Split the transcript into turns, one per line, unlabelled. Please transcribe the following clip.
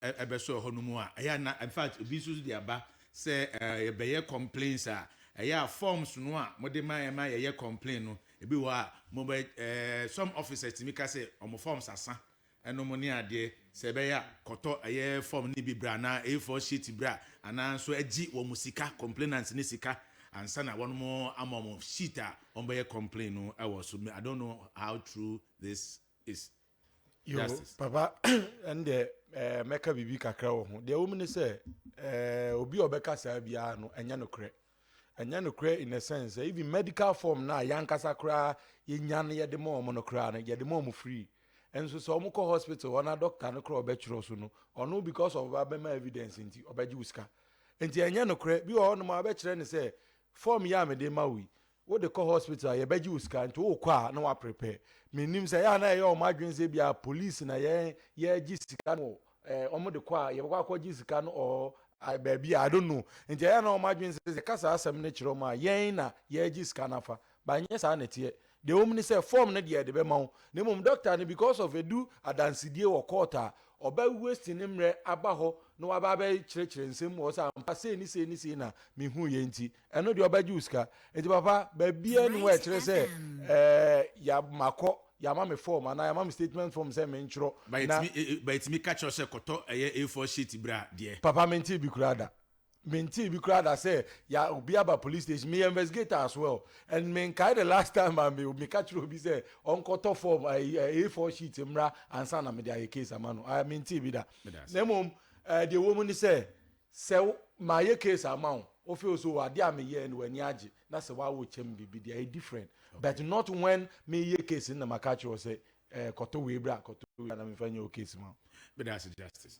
ɛbɛsɔɔ hɔ no mu a ɛyɛ a na in fact ebi nso de aba sɛ ɛɛ yɛbɛyɛ complaints a ɛyɛ a forms no a mo de ma yɛ ma yɛyɛ complain no ebi wɔ a mo bɛ ɛɛ some officers tumi ka sɛ wɔn forms asa ɛnom ne adeɛ sɛ ɛbɛyɛ a kɔtɔ ɛyɛ form ne bi bra anaa A4 sheet bra anaa nso agye wɔn sika complainants ne sika ansa na wɔn mo ama wɔn sheet a wɔn bɛyɛ complain no ɛwɔ so I don't know how true this is yo
papa ɛndeɛ eh, mɛka biribi kakra wɔ ho deɛ wɔm ne sɛ eh, obi a ɔbɛka saa biara no ɛnyɛ nokorɛ ɛnyɛ nokorɛ in a sense eh, even medical form no a yɛankasa koraa yɛnya no yɛde ma ɔmo no koraa no yɛde ma ɔmo free nso sɛ ɔmo kɔ hospital hɔ na doctor no koraa ɔbɛtwerɛ so no ɔno because of abɛma evidence nti ɔbɛgye wo sika nti ɛnyɛ nokorɛ bi wɔ hɔ nom a ɔbɛkyerɛ ne sɛ form yɛ a mede ma wo yi Wode kɔ hospital a yɛbɛgye wo sika nti wokɔ a na woaprepare. Mennim sɛ ɛyɛ a na ɛyɛ wɔn adwene sɛ ebia police na yɛn yɛregye sika no wɔ eh, wɔn de kɔ a yɛbɛkɔ akɔgye sika no or ah, baabi a I don't know. Nti ɛyɛ a na wɔn adwene sɛ yɛka saa asɛm no kyerɛ wɔn a yɛn na yɛregye sika no afa. Ba nyɛ saa na ɛteɛ. Deɛ ɛwɔ mu ne sɛ form no deɛ yɛde bɛma wo na mmom doctor no because of ɛdu adansedie wɔ court a ɔbɛ waste ne mmerɛ aba hɔ na waba abɛkyerɛkyerɛ nsɛm mu wɔ sɛ ampa sei ne sei ne sei na mehuiɛ nti Ɛno deɛ ɔbɛgye wo sika. Nti papa, baabiara nni hɔ a ɛkyerɛ sɛ ɛɛ ya makɔ, yɛama me form anaa yɛama me statement form sɛ mentwerɛ Ba na. yɛtumi e e ba
yɛtumi ka kyerɛ wo sɛ kɔtɔ ɛyɛ A4 sheet bra deɛ. Papa mentee bi koraa
da. Mentee bi koraa da sɛ ya obi aba police station. Meyɛ investigator as well and menkae the last time a me meka kyerɛɛ obi sɛ ɔnkɔtɔ form ɛyi ɛ A4 sheet mmra ansa na mede ayɛ case ama no. I mentee bi da. Meda ase. Na mmom ɛɛ deɛ ɛwɔ mu ne sɛ. Sɛ wo, mayɛ case ama wo, wo feel so ade a me yɛɛ no w'ani agye, na sɛ wa wo kyɛ me biribi deɛ ɛyɛ different, but not when me yɛ case no na maka akyerɛ wo sɛ eh
kɔtɔ
wei bra, kɔtɔ wei bra na me
nfa
nyɛ wo case ma wo. Meda
ase
Justice.